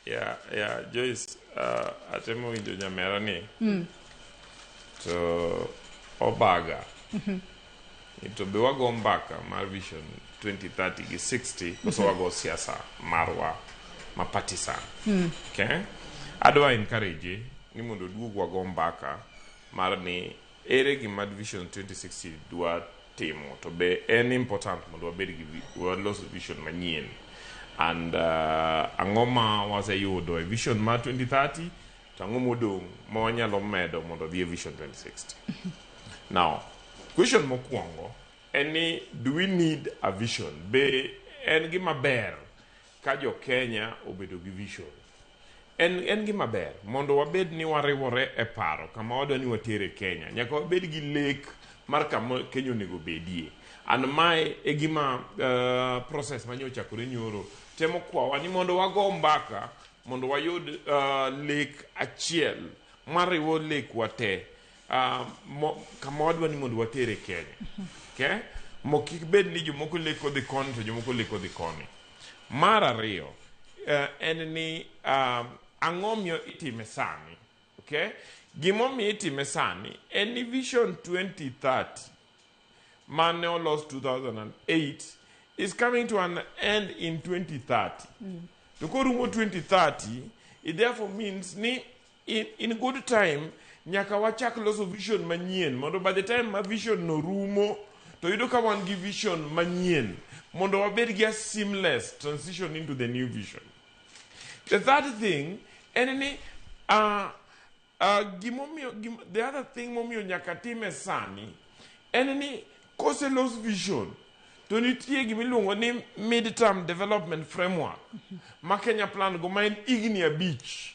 Yeah, yeah, Joyce, uh, atemo winjo nyamera ni. Mm. To obaga. Mm -hmm. To be wago mbaka mar vision 2030 gi 60 koso mm -hmm. wago siasa marwa ma partisan. Mm. Okay? Adwa encourage ni mondo duog wago mbaka mar ni Ere gima Vision 2060 dwa timo to be en important mondo wabed gi walos vision manyien and uh, ang'o ma waseyudo e vision ma 2030 to ang'o modong' ma wanyalo medo mondo odhi e vision 2060 now question mokwongo en ni do we need a vision be en gima ber Ka jo Kenya obedo gi vision, en, en gima ber mondo wabed ni wariwore e paro kama wadwa ni watere Kenya. Nyaka wabed gi lek mar kama Kenya onego bedie. An mae e gima uh, process ma nyochakore nyoro temo kwawa ni mondo wago mbaka mondo wayud uh, lek achiel mariwo lekwa te Uh, mo, kama wadwa ni mondo watere Kenya. Okay? Mo kik bed ni jomoko leko dhi koni to jomoko leko dhi koni. Mar ariyo, uh, en ni um, ang'o miyo itime sani? Okay? Gimomiyo itime sani en ni Vision 2030 mane olos 2008 is coming to an end in 2030. To korumo 2030, it therefore means ni In, in good time nyaka wachak loso vision manyien mondo by the time ma vision no rumo to yudo ka wan gi vision manyien mondo wabed gi a seamless transition into the new vision the third thing en ni uh, uh, gimomiyo gim, the other thing momiyo nyaka time sani en ni kose los vision to nitie gima iluongo ni mid term development framework ma kenya plan go ma en igni abich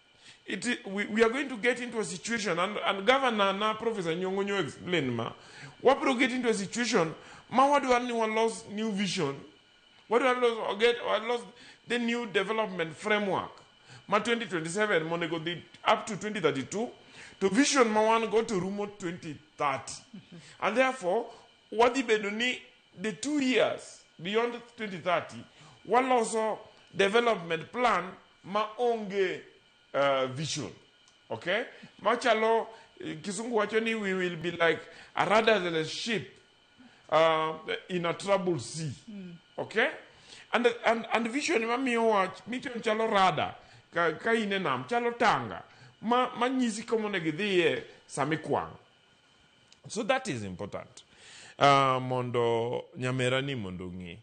It, we, we are going to get into a situation and, and governor na professor nyongo nyo explain ma wabiro get into a situation ma wadwar ni walos new vision wadwar los, or get, or los the new development framework ma 2027 monego dhi up to 2032 to vision ma wan go to rumo 2030 and therefore wadhi bedo ni the two years beyond 2030 waloso development plan ma onge uh, vision okay machalo eh, kisungu wacho ni we will be like a rudderless ship uh, in a troubled sea okay and, and, and vision mamiyowa vision chalo rada ka, ka in e nam chalo tanga ma manyisi komonego idhiye samikwang so that is important uh, mondo nyamerani mondo ong'e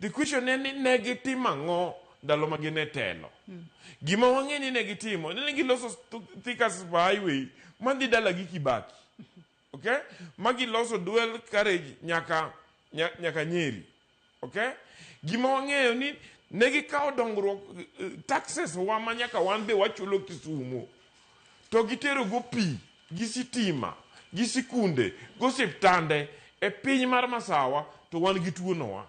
The question en ni ne gitimo ang'o ndalo ma gin e telo? Gima wang'e ni ne gitimo, ne giloso th- Thika Super Highway madhi dala gi Kibaki. Okay? Ma giloso dual carriage nyaka nya, nyaka Nyeri. Okay? Gima wang'eyo ni ne gikawo dongruok eh, taxes wa ma nyaka wan be wachulo Kisumo. to giterogo pi gi sitima gi sikunde gosiptande e piny mar masawa to wan gi tuo nowa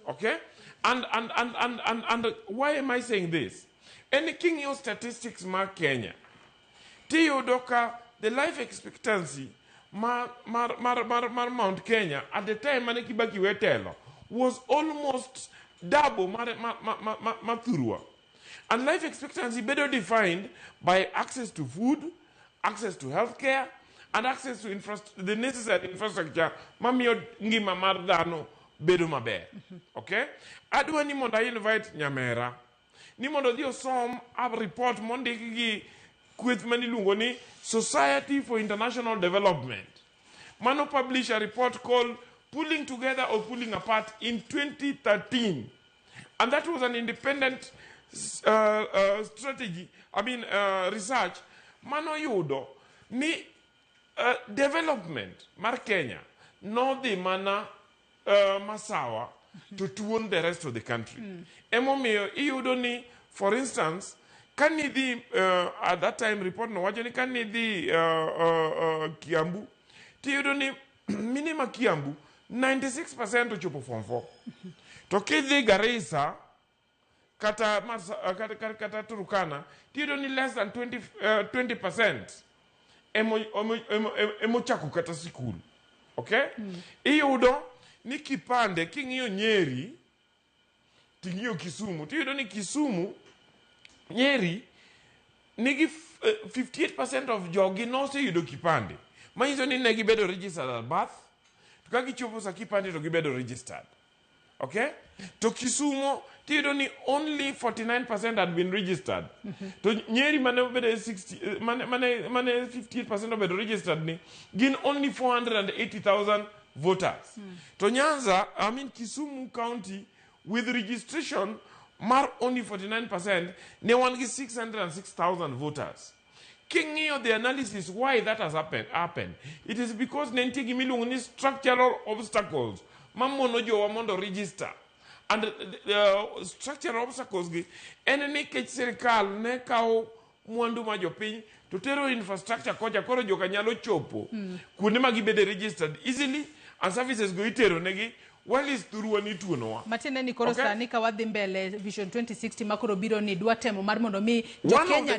okay and, and, and, and, and, and why am I saying this en ni king'iyo statistics ma Kenya tiyudo ka the life expectancy mar, mar, mar, mar, mar Mount Kenya at the time mane Kibaki wetelo was almost double mar, mar, mar, mar, mar, mar Thurwa And life expectancy bedo defined by access to food, access to healthcare, and access to infrastru- the necessary infrastructure mamiyo ngima mar dhano bedo maber. Okay? Adwa ni mondo I invite Nyamera ni mondo odhi osom a report mondik gi kweth ma niluongo ni Society for International Development. Mano publish a report called Pulling Together or Pulling Apart in 2013. And that was an independent uh, uh, strategy, I mean, uh, research. Mano yudo ni uh, development mar Kenya nodhi mana uh, masawa to tuon the rest of the country. Emomiyo iyudo ni, for instance, ka nidhi uh, at that time report no wacho ni ka nidhi uh, uh, uh, Kiambu tiyudo ni mine ma Kiambu 96% ochopo form 4. To kidhi Garissa kata Mars, uh, kata, kata, kata Turkana tiyudo ni less than 20, uh, 20% emo- emo- emo- emo- emochako kata sikul okay iyudo ni kipande king'iyo nyeri ting'iyo kisumu tiyudo ni kisumu nyeri nigi f- eh, 58 of jogi noseyudo kipande manyiso ni ne gibedo registered at birth to ka gichopo sa kipande to gibedo registered okay to kisumo tiyudo ni only 49 had been registered to nyeri mane obedo 60 eh, mane mane mane 58 obedo registered ni gin only 480000 voters to nyanza i mean kisumu county with registration mar only 49% ne wan gi 606000 voters king'iyo the analysis why that has happened, happened it is because ne nitie gima iluongo ni structural obstacles mamono jowa mondo register and uh, structural obstacles gi en ni nikech sirikal ne kawo mwandu ma jopiny to tero infrastructure kocha koro joka nyalo chopo mm. kuonde ma gibede registered easily and services go itero negi walis thurwa ni tuonowa matiende ni koro okay. sani ka wadhi mbele vision 2060 ma koro biro ni dwa temo mar mondo mi jokenya